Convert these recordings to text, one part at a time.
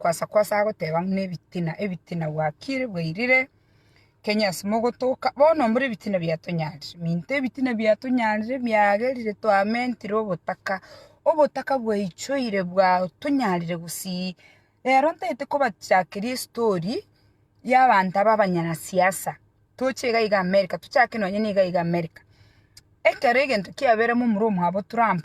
Kwasa kwasa agoteba ng'una ebitina ebitina gwakire bwairire Kenya ase mogotoka bono mbore ebitina biatonyarire minto ebitina biatonyarire biagerire twamentire obotaka obotaka bwaichoire bwatonyarire gusii rero ntaete kobachakeria estory y'abanto aba abanyana siasa toche iga iga America tochake nonye niga iga America ekero egento kiaberemo omorwa omwabo Trump.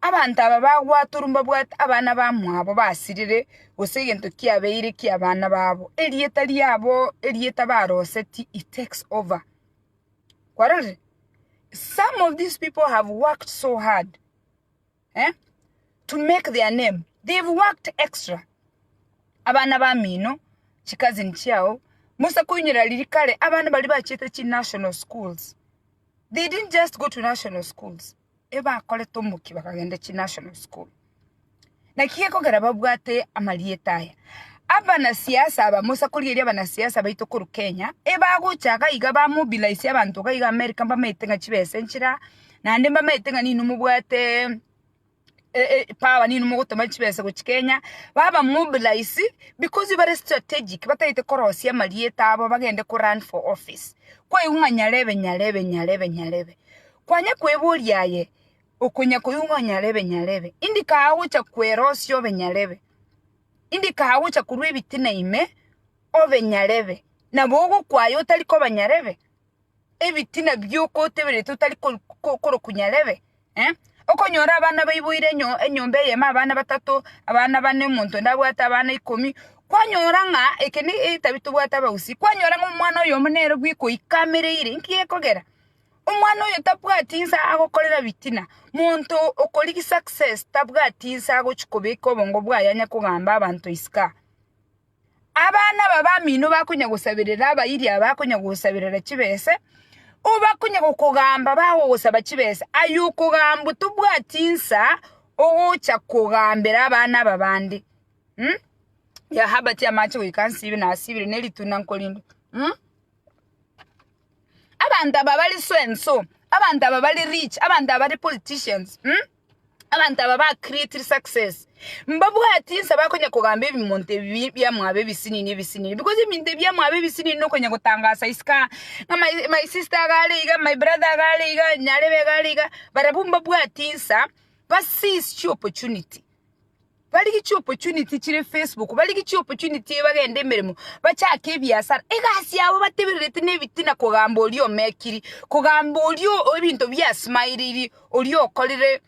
Abanto aba bagwatorwa mbabwate abana bamwabo basirire, gose egento kiabeire ki'abana babo, erieta riabo erieta barosetie it takes over, kwarorire? Some of these people have worked so hard eh to make their name, they've worked extra, abana bamino, chi cousin chiao, mosa koinyora riria kare abana baria bachete chi national schools. They didn't just go to national schools, ebakorete omokia bakagenda chi national school. Naki gekogera babwate amarieta aya. Abana siasa aba mosa korigeria abana siasa baito koru Kenya, ebagocha gaiga ba mobilize abanto gaiga America mbamaete ng'a chibesa enchera, naende mbamaete ng'a nini mobwate power ninwe mogotoma chibesa gochia Kenya, baba mobilise because bare strategic batagete korosia amarieta abo bagende ko run for office. Kwaigwa ng'a nyarebe nyarebe nyarebe nyarebe. Kwanya kweboria aye, okonya koigwa ng'a nyarebe nyarebe. Indi kagocha gocha kwerosia obe nyarebe. Indi kagocha gocha korwa ebitina ime obe nyarebe. Nabo ogokwaya otari koba nyarebe. ebitina bi'okotebereria otari korokunya rebe, eh? Okonyora abana baiboire enyomba eyemo abana batato, abana bane, omonto onde abwate abana ikomi, kwanyora ng'a eke ne etabia tobwate abagusii, kwanyora ng'a omwana oyomo nere bweka oikamereire. Inki gekogera? Omwana oyo tabwati nse agokorera ebitina, monto okorigia success tabwati nse agochia kobeka obongo bwaye anya kogamba abanto isiko aa. Abana aba bamino bakonya gosaberera abairi aba bakonya gosaberera chibesa, obo bakonya gokogamba bagogosaba chibesa, aye okogambwa tobwati nsa ogocha kogambera abana aba bande. Mh? Yahaba tiamache goika nsibe nasibire ne rituna nkorindwe. Mh? Abanto aba bare so and so, abanto aba bare rich, abanto aba bare politicians. Mh? Abanto aba ba created success mbabwati inse bakonya kogamba ebimonto ebi biamwabo ebisinini ebisinini because ebinto ebi biamwabo ebisinini nokonya gotangasa isika ng'a my, my sister agare iga my brother agare iga nyarebe agare iga barabwo mbabwati insa basischi opportunity Barigie chiopportunity chire Facebook, barigie chiopportunity bagende emeremo, bachake ebiasara. Egasi yabo batebererete nebitina kogamba oria omekiri, kogamba oria o- ebinto biasmaireiri, oria okorire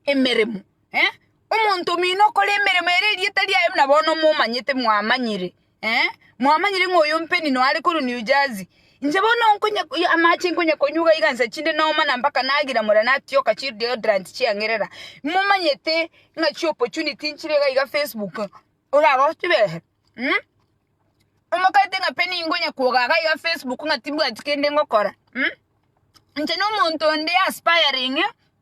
emeremo. Eh? Omonto omino okore emeremo ere erieta riaye buna bono momanyete mwamanyire. Eh, mwamanyire ng'a oyo ompeni noare korwa New Jersey. Inche bono nkonya amache nkonya konywa iga igansa chinde noma na mpaka nagira mora natioka chi deodorant chiang'erera. Momanyete ng'a chi opportunity nchire iga iga Facebook orara ochibehe. Mm? Omokaete ng'a pe ninkonya kwoga iga iga Facebook ng'a tibwati kende ngokora. Mm? Inche nomonto onde aspiring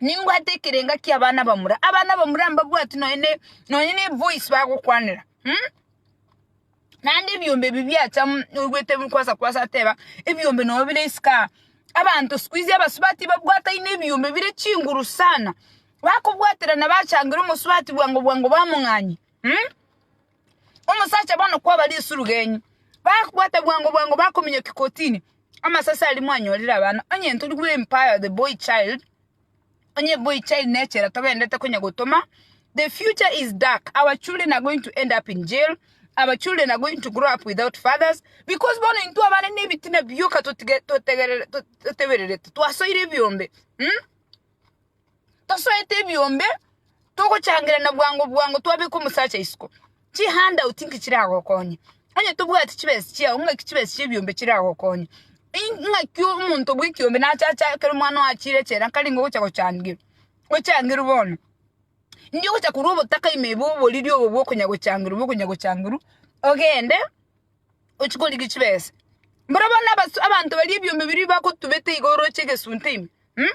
nimbwate ekerenga kia abana bamura abana bamura mbabwati nonya ne nonya ne voice bagokwanera mm? naende ebiombe ebi biacha mm, oigwete kwasa kwasa ateba ebiombe nobo bire isika abanto sikuizi abasubati babwataine ebiombe bire chinguru sana bakobwaterana bachangire omosubati bwango bwango bamong'anye mm? Omosacha bono kwaba risurugenyi, bakobwata bwango bwango bakominyokia kotini amasase aria mwanyorire abana, onye ntori we empire the boy child, onye boy child nechera togenderete konya gotoma, the future is dark, our children are going to end up in jail, our children are going to grow up without fathers, because bono intwe abana ne ebitina bioka totige totegerere to totebererete twasoire ebiombe mh. Tosoete ebiombe, togochangerana bwango bwango twabeka omosacha isiko. Chi hand out inki chiragokonye? Onye tobwati chibesa chiao ng'aki chibesa chia ebiombe chiragokonye? Ing'aki omonto bwe ekiombe nache achakere omwana oye achire echela nkare nigo ogocha gochangerwa, ochangerwe bono. Indio ogocha korwa obotaka ime iga oboriri obo bwa okonya gochangerwa bwa okonya gochangerwa ogende. ochie korigia chibesa. Mboro bono abasu- abanto baria ebiombe biria bagotubete iga oroche egesunte ime um?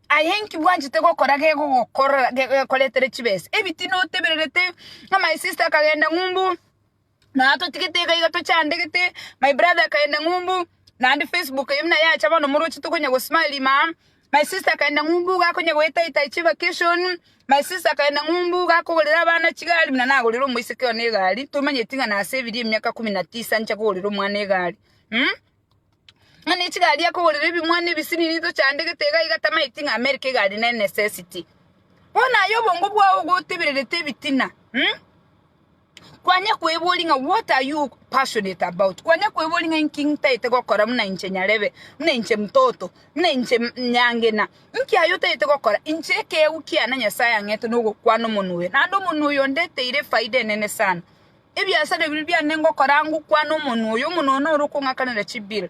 Aye inki bwanchete gokora gegogokorora ge- gekoretere chibesa? Ebiti notebererete ng'a my sister akagenda ng'umbu na atotigete iga iga tochandegete, my brother akagenda ng'umbu naende facebook eye buna yacha bono moroche tokonya gosmile ime aa, My sister akaenda ng'umbu iga akonya goeta Itachi vacation My sister akaenda ng'umbu iga akogorera abana chigari buna nagorera omoiseke one egari tomanyeti ng'a nase ebiria emiaka kumi na tisa nche kogorera omwana egari mm? ng'a ne chigari akogorera ebimwana ebisinini tochandegete iga iga tamanyeti ng'a America egari ne necessity bono aye obongo bwao gotebererete ebitina mm? Kwanyare kweboria ng'a what are you passionate about? Kwanyare kweboria ng'a inki ntagete gokora buna inche nyarebe, buna inche mtoto, buna inche nyangena. Inki aye otagete gokora? Inche ekeegwa kiane Nyasae ang'ete nogokwana omonwa oyo. Naende omonwa oyo ondeteire efaida enene sana. Ebiasara ebiria biane ngokora ngokwana omonwa oyo, omonwa oyo noro okong'akanera chibill.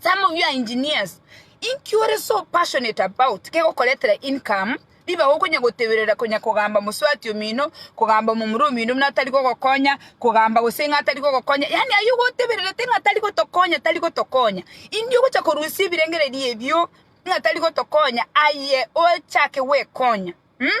Some of you are engineers, inki ore so passionate about kegokoretera income, ribaga okonya goteberera konya kogamba mosubati omino, kogamba omomura omino buna tari gogokonya, kogamba gose ng'a tari gogokonya, yaani ayio gotebererete ng'a tari gotokonya tari gotokonya, indio ogocha korusia ebirengererio ebio ng'a tari gotokonya aye ochake gwekonya, um.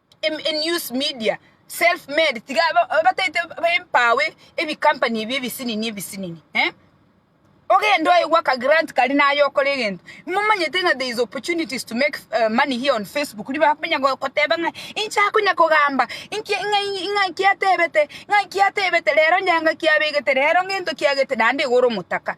News media self made tiga batagete empawe ebi company ebi ebisinini ebisinini eh ogende oyegwe aka grant karia naye okore egento momanyete ng'a there is opportunities to make money here on Facebook riria bakonya goteba ng'a inche akonya kogamba inki ng'a ng'a inki atebete ng'a inki atebete rero onye ngaki abegete rero ng'ento kiagete naende iga ore omotaka.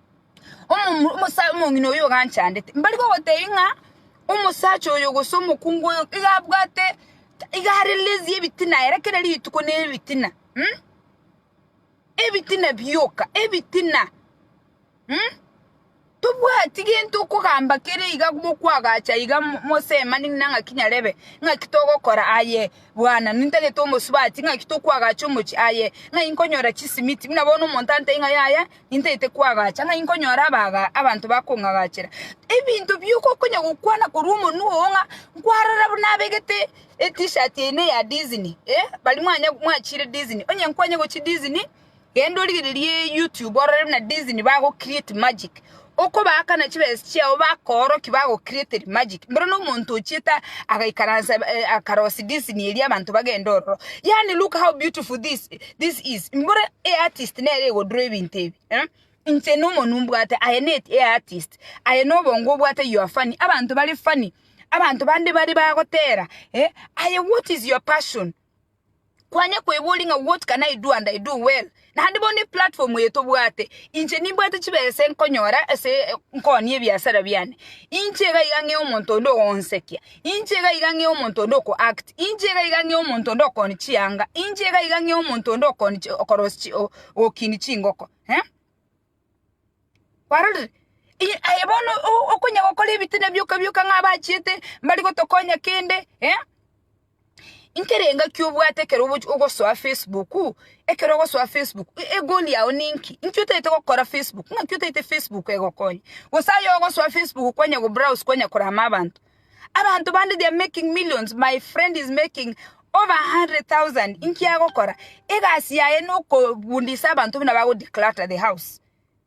Omomura omosae omong'ina oyio oganchandete, mbari gogotebi ng'a omosacha oyo gose omokungu oyo iga abwate iga are lazy ebitina ere kera rituko nere ritina mh. Ebitina bioka ebitina mh. Tobwati gento okogamba kere iga mokwagacha iga mo mosemani ng'ina ng'aki nyarebe ng'aki togokora aye bwana nintagete omosubati ng'aki tokwagacha omochie aye ng'ai nkonyora chisimiti buna bono omonto antebie ng'a yaya Nintaete kwagacha ng'a inkonyora abaaga abanto bakong'agachera. Ebinto bioka okonya gokwana korwa omonwa oo ng'a nkwarora buna abegete etishirt yaino ya Disney, eh, baria mwanya mwachire Disney, onye nkwanya gochia Disney, genda origererie YouTube orore buna Disney bago create magic, okobaakana chibesa chiao bakoorokia bago createri magic, mboro na omonto ochiete agaikaransa akarosi Disney eria abanto bagende ororo, yaani look how beautiful this. This is mbore eartist nere egodurwa ebinto ebi eh? Inche nomonu mbwate aye net eartist aye nobongo obwate you are funny abanto bare funny abanto bande bare bagotera eh? Aye what is your passion kwanya kwebori ng'a what can I do and I do well naende bono eplatform eye tobwate inche nimbwate chibesa nkonyora ase nkonia ebiasara biane inche iga iga ng'e omonto onde ogonsekia Inche iga iga ng'e omonto onde oko act, inche iga iga ng'e omonto onde okoni chianga, inche iga iga ng'e omonto onde okoni chi okorosi chi o- gokini chingoko eh. Kwarorire? I aye bono o- okonya gokora ebitine bioka bioka ng'a abachiete mbari gotokonya kende eh. Inki rengaki obwate ekero ogochi ogosoa Facebook? Ekero ogosoa Facebook egoli yao ninki? Inki otaete gokora Facebook? Ng'aki otaete Facebook egokonye? Gose aye ogosoa Facebook kwanya go browse kwanya korama abanto? Abanto bande they are making millions, my friend is making over a hundred thousand, inki agokora? Egasi yaye nokobundisa abanto buna bago declutter the house.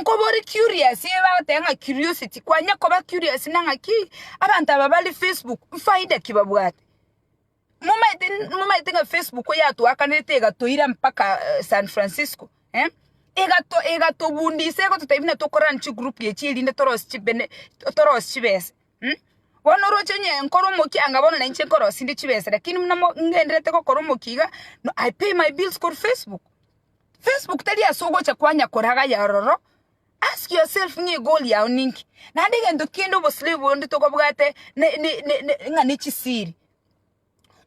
Nkobore curious eye bagoteba ng'a curiosity kwanya koba curious na ng'aki abanto aba bare Facebook nfaida ki babwate? Momaete momaete ng'a Facebook yatwakanerete egatoira mpaka San Francisco eh? Egato egatobundisa egototebia buna tokorane chigroup echi erinde torosie chibene torosie chibesa mh. Bono oroche onye nkore omokia anga bono nainche nkorosinde chibesa lakini buna mo ngendererete gokora omokia iga no I pay my bills kore Facebook. Facebook tari ase ogocha kwanya koragaya ororo, ask yourself ng'a egoal yao ninki? Naende egento kende obosiberi bonde tokobwate ne- ne- ne- ne- ng'a ne chisiri.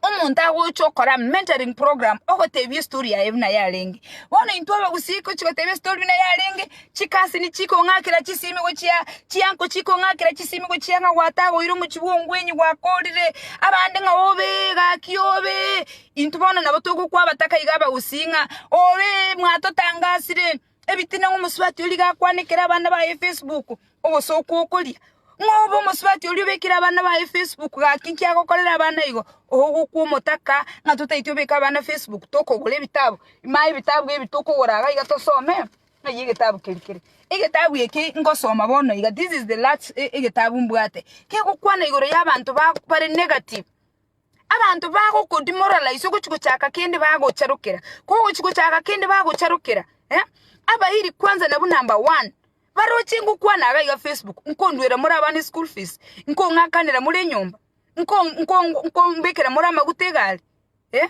Omonto agocha okora mentoring program ogotebia estory yaye buna yarenge. Bono intwe abagusii gochi gotebia estory buna yarenge, chikasini chikong'akera chisimi gochia, chianko chikong'akera chisimi gochia ng'a gwatagoire omochie bwa ongwenyi gwakorire, abande ng'a obee gaki obee. Intwe bono nabo togokwa abataka iga abagusii ng'a, Obe! Mwatotangasire! Ebitina ng'omosubati oria iga akwanekera abana baye Facebook, ogosooka okoria. Ng'a obe omosubati oria obekire abana baye Facebook, gaki inki agokorera abana igo? Ogokwa omotaka ng'a totaeti obeka abana Facebook, tokogora ebitabu. Imanye ebitabu ebi tokogora iga iga tosome ng'ai egetabu keri kere. Egetabu eke ngosoma bono iga, this is the last egetabu mbwate, kegokwana igoro y'abanto bare negative. Abanto bagokodimora raiso gochia gochaka kende bagocharokera, kogochia gochaka kende bagocharokera eh, abairi kwanza nabwo number one baroche ngokwana iga iga Facebook, nkonduera more abana eschool fees, nkong'akanera more enyomba, nko- nko- nkombekera more amaguta egari eh,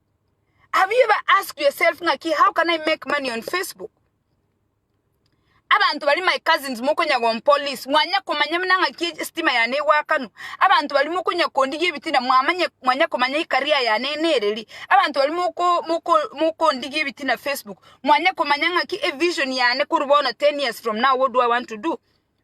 Have you ever asked yourself ng'aki how can I make money on Facebook? Abanto bari my cousins mokonya gompolice mwanya komanya muna ng'aki e- stima yane egwakanu. Abanto bari mokonya kondigia ebitina mwamanye mwanya komanya ikaria yane nereri. Abanto bari moko moko mokondigia ebitina Facebook mwanya komanya ng'aki e vision yane koru bono 10 years from now what do I want to do?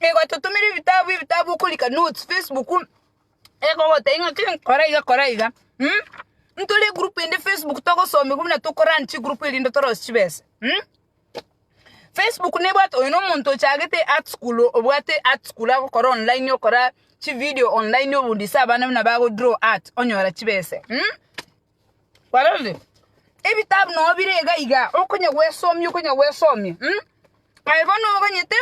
Nigo totomire ebitabu ebitabu okorika notes facebook egogotebia ng'a kei kora iga kora iga ntore egroup ende facebook togosomigwa buna toko run chigroup erinde torosie chibesa. Facebook nebwate oyo na omonto ochagete art school obwate art school agokora online okora chividio online obundise abana buna bago draw art onyora chibesa. Korende ebitabu nao bire iga iga, okonya gwesomia, okonya gwesomia. Aye bono oganyete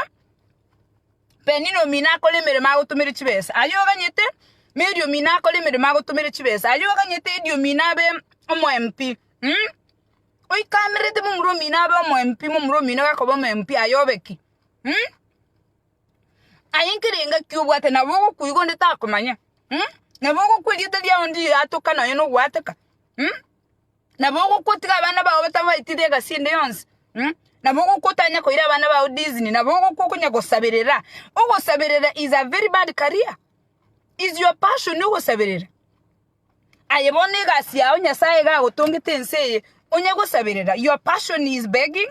Penina omino akore emeremo agotomere chibesa, aye oganyete Mary omino akore emeremo agotomere chibesa, aye oganyete Eddy omino abe omo MP. Oikanerete momura omino abe omo MP, momura omino gakoba omo MP, aye obe ki? Aye nkerenga ki obwate nabo ogokoigwa onde takomanya, nabo ogokwa erieta riao onde riatoka nonya nogoateka, nabo ogokwa otiga abana bao batabaetire egasi ende yonsi, nabo ogokwa otanye koira abana bao dizni, nabo ogokwa okonya gosaberera. Ogosaberera is a very bad career, is your passion ogosaberera. Aye bono egasi yao Nyasaye iga agotongete ense eye, onye gosaberera, your passion is begging,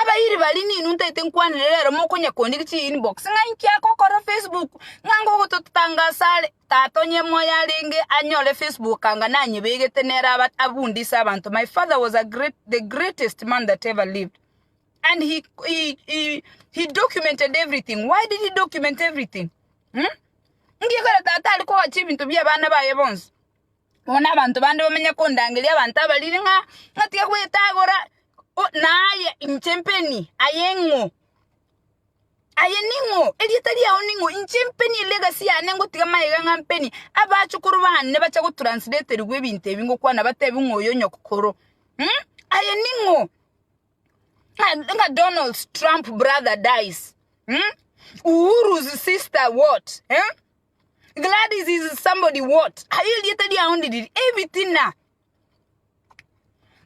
Abairi baria ninwe ntaete nkwanire rero mokonyakondiki chi inbox ng'a inki agokora Facebook ng'a ngogototanga asare tata onye moyo arenge anyore Facebook anga nanyebegete nere aba abunde ase abanto my father was a great the greatest man that ever lived and he he he he documented everything why did he document everything? Hm? Ngiekore tata ari kogacha ebinto bia abana baye bonsi Bono abanto bande bamenye kondangeria abanto abariri ng'a natige gwetagora o- naye inche mpeni aye ng'o, aye ning'o, erieta riao ning'o, inche mpeni elegasi yane ngotiga magega ng'a mpeni. Abachukuru bane bache gotranslaterigwa ebinto ebi ngokwana batebi ng'a oyo nyokoro aye ning'o? Ng'a- ng'a Donalds Trump brother dies Uhuru's sister what? Gladys is somebody what? Aye erieta riao ndiriri ebitina.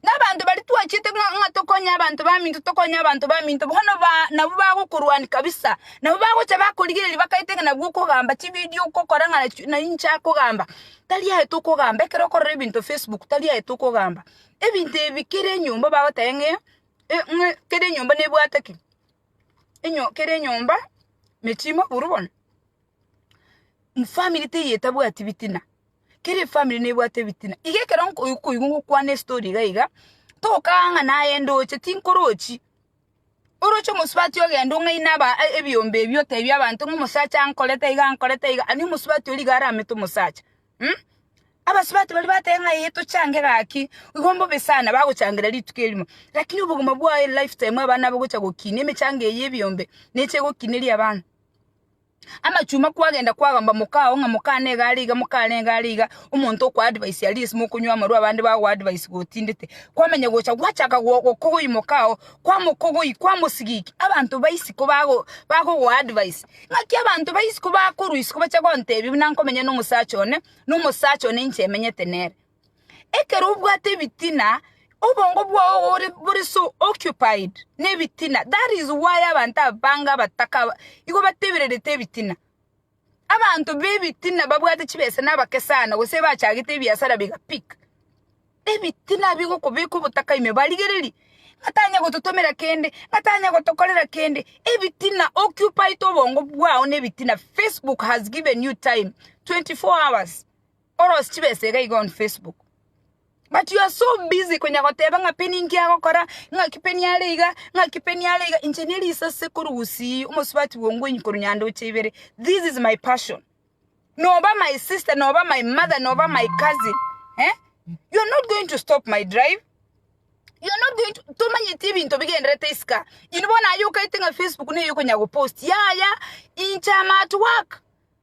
Nabanto bari twachete ng'a ng'a tokonye abanto baminto tokonye abanto baminto bono ba nabo bagokorwania kabisa. Nabo bagocha bakorigereria bakaete ng'a nabwo okogamba chividio okokora ng'a nachi nai inche akogamba. Tari aye tokogamba ekero okorora ebinto Facebook tari aye tokogamba. Ebinto ebi kera enyomba bagoteba ng'e e ng'e kera enyomba nebwate ki? Enyo kera enyomba mechie moburu bono. family teiyo etabwati bitina, kera efamiri nebwate ebitina, iga ekero nko okoigwa gokwana estori iga iga, tokagaa ng'a naye ndoche tinkorochi, oroche omosubati ogende ong'aine aba ebiombe ebi otebie abanto ng'a omosacha ankorete iga ankorete iga, ani omosubati oria iga aramete omosacha mh. Abasubati baria bateba ng'a eh tochange gaki, igo mbobe sana bagochangera rituko erimo, rakini obogima bwaye life time abana abo gocha gokina emechango eye ya ebiombe neche egokineria abana. Amachuma kwagenda kwagamba mokao ng'a mokane iga are iga mokane iga are iga omonto okoa advice aria ase mokonywa amarwa abande bagoa advice gotindete kwamenya gocha gwachaka gokogoi mokao kwamokogoi kwamosigiki abanto ba isiko bago bagogoa advice ng'aki abanto ba isiko bakorwa isiko bache gontebi buna nkomenya na omosacha one na omosacha one inche emenyete nere. Ekero obwate ebitina, obongo bwao bore, bore so occupied nebitina. That is why abanto aba bange abataka aba igo batebererete ebitina. Abanto bebitina babwate chibesa nabake sana gose bachagete ebiasara biga big. Ebitina bigokobeka obotaka ime barigererie ng'a tanya gototomera kende, ng'a tanya gotokorera kende. Ebitina occupied obongo bwao nebitina. Facebook has given you time 24 hours. Orosie chibesa iga iga on Facebook but you are so busy konya goteba ng'a peni inki agokora, ng'aki peni are iga, ng'aki peni are iga. Inche ne risase korwa gusii omosubati bwongwenyi korwa nyandoche ibere. This is my passion. Noba my sister, noba my mother, noba my cousin eh? You are not going to stop my drive. You are not going to tomanyeti ebinto bigenderete isika. Inwe bono aye okaete ng'a Facebook neye okonya gopost. Yaya, inche am at work.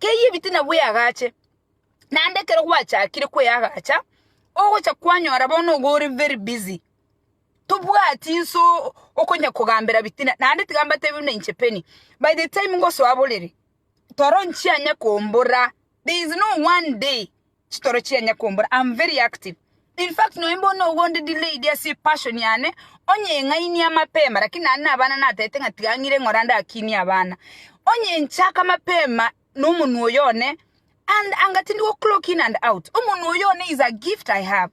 Keyie ebitina bw'eagache, naende ekero gwachakire kweyagacha, ogocha kwanyora bono nigo ore very busy, tobwati inso okonya kogambera bitina, naende tiga mbatebi buna inche Penny, by the time ngosoa borere, toro nchianya komborera, there is no one day. chitoro chianye kombora am very active in fact nonya mbono ogo onde delayed ase epassion yane onye eng'ainie amapema lakini naende na abana natagete ng'a tiga ang'ire ng'ora ndakinie abana onye enchaka mapema na omonwe oyo one and anga tindi go clock in and out omonwe oyo one is a gift i have.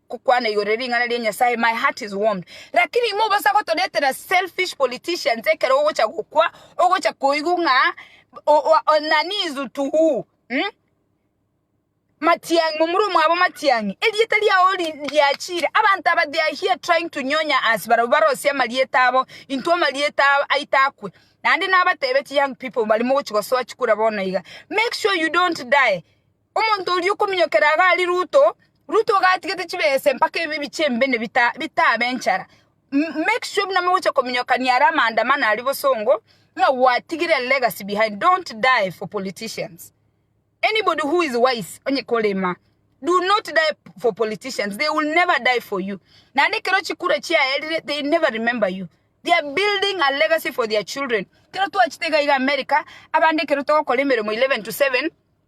gokwana igoro ring'ana ria Nyasaye my heart is warmed lakini imo obasa gotoretera selfish politicians ekero ogocha gokwa ogocha koigwa ng'a nani is to who mm? Matiang'i momura omwabo Matiang'i erieta riao riachire abanto aba they are here trying to nyonya us barabwo barosie amarieta abo intwe amarieta aito akwe naende nabatebetie young people bari mogochi gosoa chikura bono iga make sure you don't die Omonto oria okominyokera iga aria Ruto, Ruto iga atigete chibesa mpaka ebibi chimbe ne bitabe enchara. Make sure buna mogochia kominyokania aria amaandamano aria bosongo ng'a gwatigire a legacy behind. Don't die for politicians. Anybody who is wise onye korema, do not die for politicians. They will never die for you. Naende ekero chikura chiaerire, they never remember you. They are building a legacy for their children. Ekero twachete iga iga America, abande ekero togokora emeremo 11 to 7,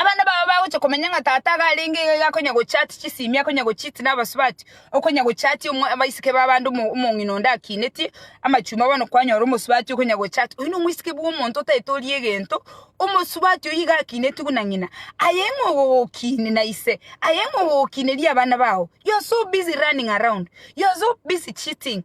Abana bao bagocha komanya ng'a tata iga arenge iga, iga akonya gochati chisimi, akonya gochiti na abasubati, okonya gochati omwa abaiseke ba abande omo- omong'ina onde akineti amachuma bono kwanyora omosubati okonya gochati. Oyio na omoiseke bwa omonto otaete oria egento, omosubati oyio iga akineti buna ng'ina, aye ng'a ogogokini na ise, aye ng'a ogogokineria abana bao. You are so busy running around, you are so busy cheating.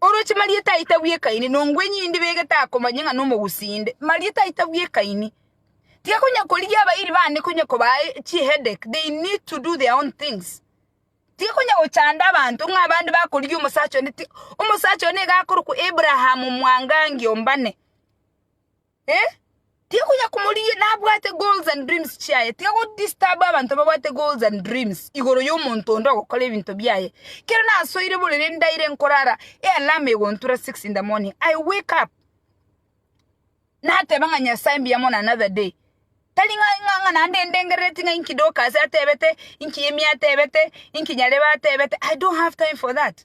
Oroche Marieta aye tabwekaini, nongwenye inde begete akomanye ng'a nomogusii inde. Marieta aye tabwekaini. Tiga konya korigia abairi bande konya kobaa chi headache, they need to do their own things. Tiga konya gochanda abanto ng'a abande bakorigia omosacha onde, omosacha one nigo akorokwa Abraham mwangangi ombane. Eh, tiga konya komorigia nabwate goals and dreams chiaye, tiga go disturb abanto babwate goals and dreams igoro y'omonto onde ogokora ebinto biaye. Kero nasoire borere ndaire nkorara, ealarm egontura 6 in the morning, I wake up nateba ng'a Nyasae mbuya mono another day. Tari ng'a ng'a ng'a naende ndengerereti ng'a inki Dorcas atebete, inki Emmy atebete, inki Nyarebe atebete, I don't have time for that.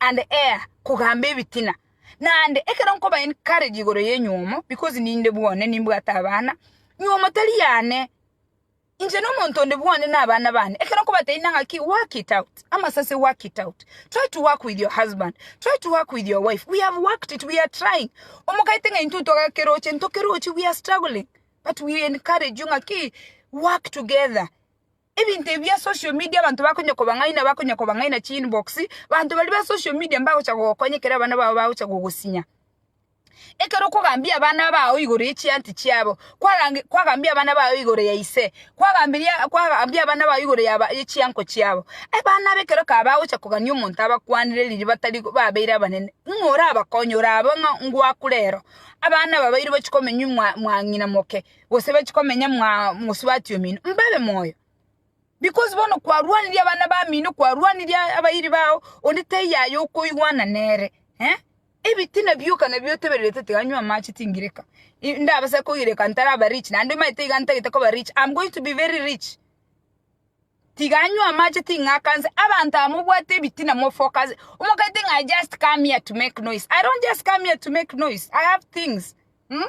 and ea kogamba ebitina, naende ekero nkoba encourage igoro y'enywomo, because ninde bwone nimbwate abana, nywomo tari yane, inche nomonto onde bwone na abana bane, ekero nkobatebinia ng'aki work it out, amasase work it out, try to work with your husband, try to work with your wife, we have worked it, we are trying, omogaete ng'a intwe ntwakeroche, ntokerochi, we are struggling, but we encourage you ng'aki work together, Ebinto ebi bia social media abanto bakonya kobang'aina bakonya kobang'aina chi inbox, abanto baria ba social media mbagocha gogokonya ekero abana bao bagocha gogosinya. Ekero okogambia abana bao igoro ye chianti chiabo, kwarange kwagambia abana bao igoro ya ise, kwagambiria kwagambia abana bao igoro yaba ye chianko chiabo, abana aba ekero kaba bagocha kogania omonto abakwanire riria batari babeire abanene, ng'o orabakonye? Orabe ng'a ngwakure ero. Abana aba bairi bachia komenya mwa mwang'ina moke. gose bachie komenya mosubati omino, mbabe moyo. Because bono kwarwanirie abana bamino, kwarwanirie abairi bao, onde taiyo aye okoigwana nere, eh? Ebitina bioka nabio otebererete tiga nywa amache tingireka, ndabase koireka ntaraba rich, naende omanyete iga ntagete koba rich, am going to be very rich, tiga nywa amache ting'akanse, abanto aba mobwate ebitina mo focus, omanyete ng'a I just come here to make noise, I don't just come here to make noise, I have things, mmh.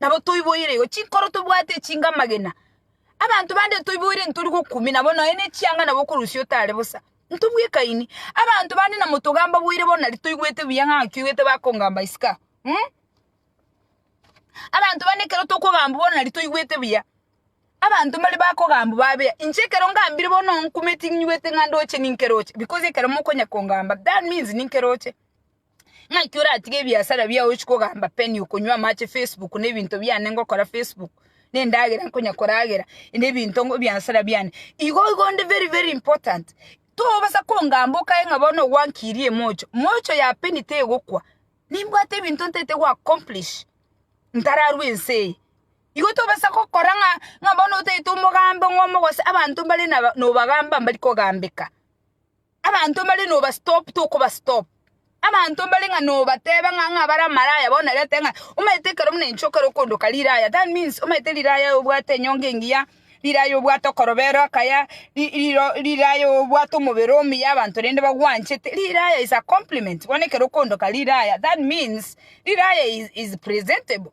Nabo toiboire igo chinkoro tobwate echinga amagena. Abanto bande ntoiboire ntori gokumia nabo nonya ne chianga nabo okorusia otare bosa. Ntobwekaini. Abanto bande na motogamba boire bono nari toigwete buya ng'a ngaki oigwete bakongamba isiko aa. Mh. Abanto bande ekero tokogambwa bono nari toigwete buya. Abanto mbare bakogambwa babe aa. Inche ekero ngambire bono onkumeti ninywete ng'a ndoche ninkeroche because ekero mokonya kongamba that means ninkeroche. Naki oratige ebiasara biao ochi kogamba penny okonywa amache Facebook ne ebinto biane ngokora Facebook ne endagera nkonya koragera ne ebinto ngo biasara biane igo igo onde very very important tobasa kongamba okae ng'a bono gwankirie mocho mocho ya penny tegokwa nimbwate ebinto ntete go accomplish ntararwa ense eye igo tobasa gokora ng'a ng'a bono otagete omogambe ng'omo gose abanto mbare naba nobagamba mbari kogambeka. Abanto mbare noba stop tokoba stop. Abanto mbare ng'a nobateba ng'a ng'a bare amaraya bono narete ng'a omanyete ekero buna inche ekero okondoka riraya that means omanyete riraya obwate enyongo engiya, riraya obwate okorobero akaya, ri riro riraya obwate omobere omuya abanto rende bagwanchete. Riraya is a compliment bono ekero okondoka riraya that means riraya is is presentable.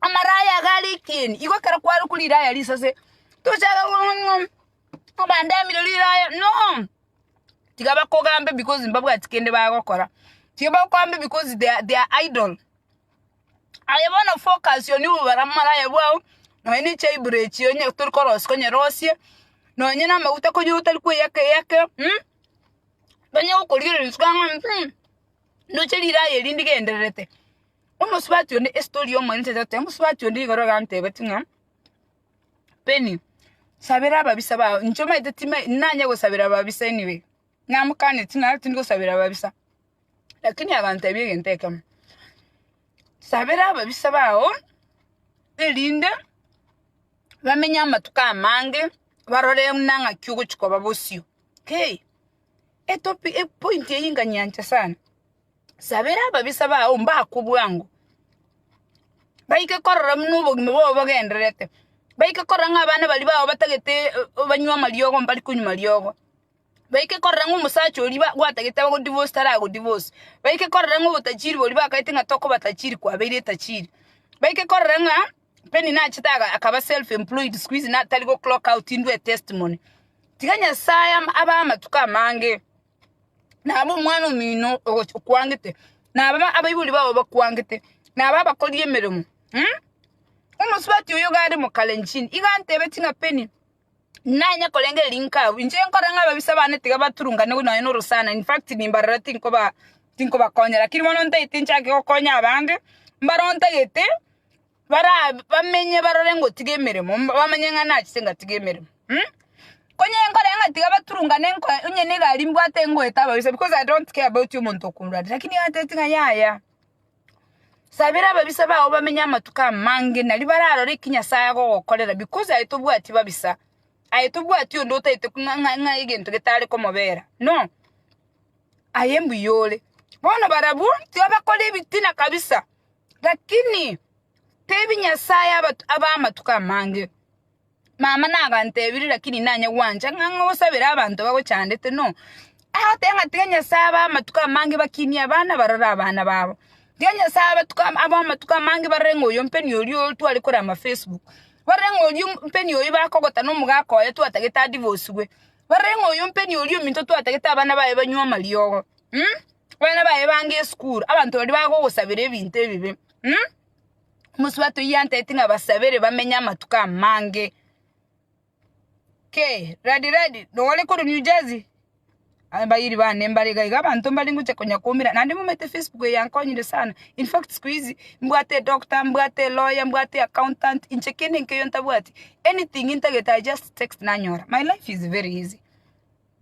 amaraya iga arikeni, igo ekero kwarokwa riraya risase, tochake kong'aa obandemire riraya no, tiga bakogambe because mbabwati kende bagokora, tiga bakogambe because they are they are idle, aye bono focus on you bara amaraya bwao, nonya ne echaiburo echio onye tori korosia onyerosie, nonya na amaguta konya otari kweyaka eyake onye gokorigereria ng'a ndoche riraya eri ndigendererete, Omosubati onde, estory y'omorente totebe, omosubati onde igoro iga antebetie ng'a, Penny, sabera ababisa bao, inche omanyete timanyeti timanyeti nanye gosabera ababisa anyway, namokaneti ng'a tindi gosabera ababisa, lakini agantebia egento ekemo, sabera ababisa bao erinde bamenye amatuko amange, barore buna ng'aki ogochia koba bosio, hey! Etopi epointi eyio nkanyeancha sana. Sabera ababisa bao mbakwe bwango, baike korora buna obogima bwabo bogendererete, baike korora ng'a abana baria bao batagete banywe amariogo mbari konywa mariogo, baike korora ng'a omosacha oria ba- gwatagete abago divorce tarago divorce, baike korora ng'a obotachiri boria bakaete ng'a tokoba tachiri kwabeire etachiri, baike korora ng'a Penina achete aga- akaba self employed sikuhizi na- tari go clock out indue etestimony. Tiga Nyasaye am- abae amatuko amange. nabo omwana omino ogochi okwangete, nabo abaibori bao bakwangete, nabo abakori emeremo mh? Omosubati oyo iga are mokalenjin, iga antebetie ng'a Penny, nanye korengereria ring'o abwo, inche nkore ng'a ababisa bane tiga baturungane nonye na orosana, in fact nimbarora tinkoba tinkobakonyera, lakini bono ntaete nchake gokonya abande, mbare ontagete. barabamenye barore ngotiga emeremo, bamanye ng'a nachete ngatiga emeremo. Konya enkorere ng'a tiga baturungane nko- onye ne egari mbwate ngoeta ababisa because I don't care about omonto okorwa ande lakini gatebeti ng'a yaya, sabera ababisa bago bamenye amatuko amange naria bararore eki Nyasaye agogokorera because aye tobwati babisa, aye tobwati onde otaete buna ng'a- ng'a egento getare komobera, no, aye mbuya ore. Bono barabwo, tiga bakore ebitina kabisa. Lakini tebi Nyasae abe amatuko amange. Mama nagantebiri lakini nanye gwancha ng'a ngosabere abanto bagochandete no. Agoteba ng'a tiga Nyasae abe amatuko amange bakinie abana barore abana babo. Tiga Nyasae abe amatuko amange barore ng'a oyo mpeni oria otware korama Facebook. Barore ng'a oria mpeni oria bakogotana omogaka oye twatagete adivoswe. Barore ng'a oyo mpeni oria ominto twatagete abana baye banywe amariogo. Abana baye bange esukuru, abanto baria bagogosabera ebinto ebibe. Mh? Omosubati oyio anteti ng'a basabere bamenye amatuko amange. Kei, Ladi Ladi, nogore korwa New Jersey? Abairi bane mbare iga iga abanto mbare ngocha konya koumera naende momanyete Facebook eye yankonyire sana. In fact siku hizi, mbwate edoctor, mbwate eloya, mbwate eaccountant, inche kende nkeiyo ntabwati. Anything intagete I just text nanyora. My life is very easy.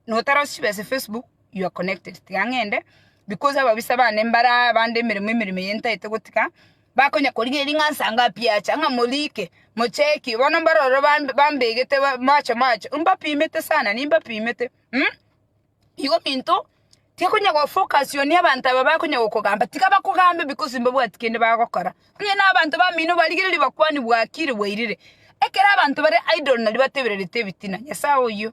notarasube ase Facebook you are connected tiga ng'ende because ababisa bane mbara bande emeremo emeremo eye ntaete gotiga bakonya korigereria ng'a nsa ngapi acha ng'a morike mocheki bono mbaro ororo bambe bambegete mache mache mbapimete sana nimbapimete mh igo ominto tiakonya gofocus on abanto aba bakonya gokogamba tiga bakogambe because mbabwati kende bagokora onye na abanto bamino barigereria bakwane bwakire bwairire ekero abanto bare idle naria batebererete ebitina nyasae oyio.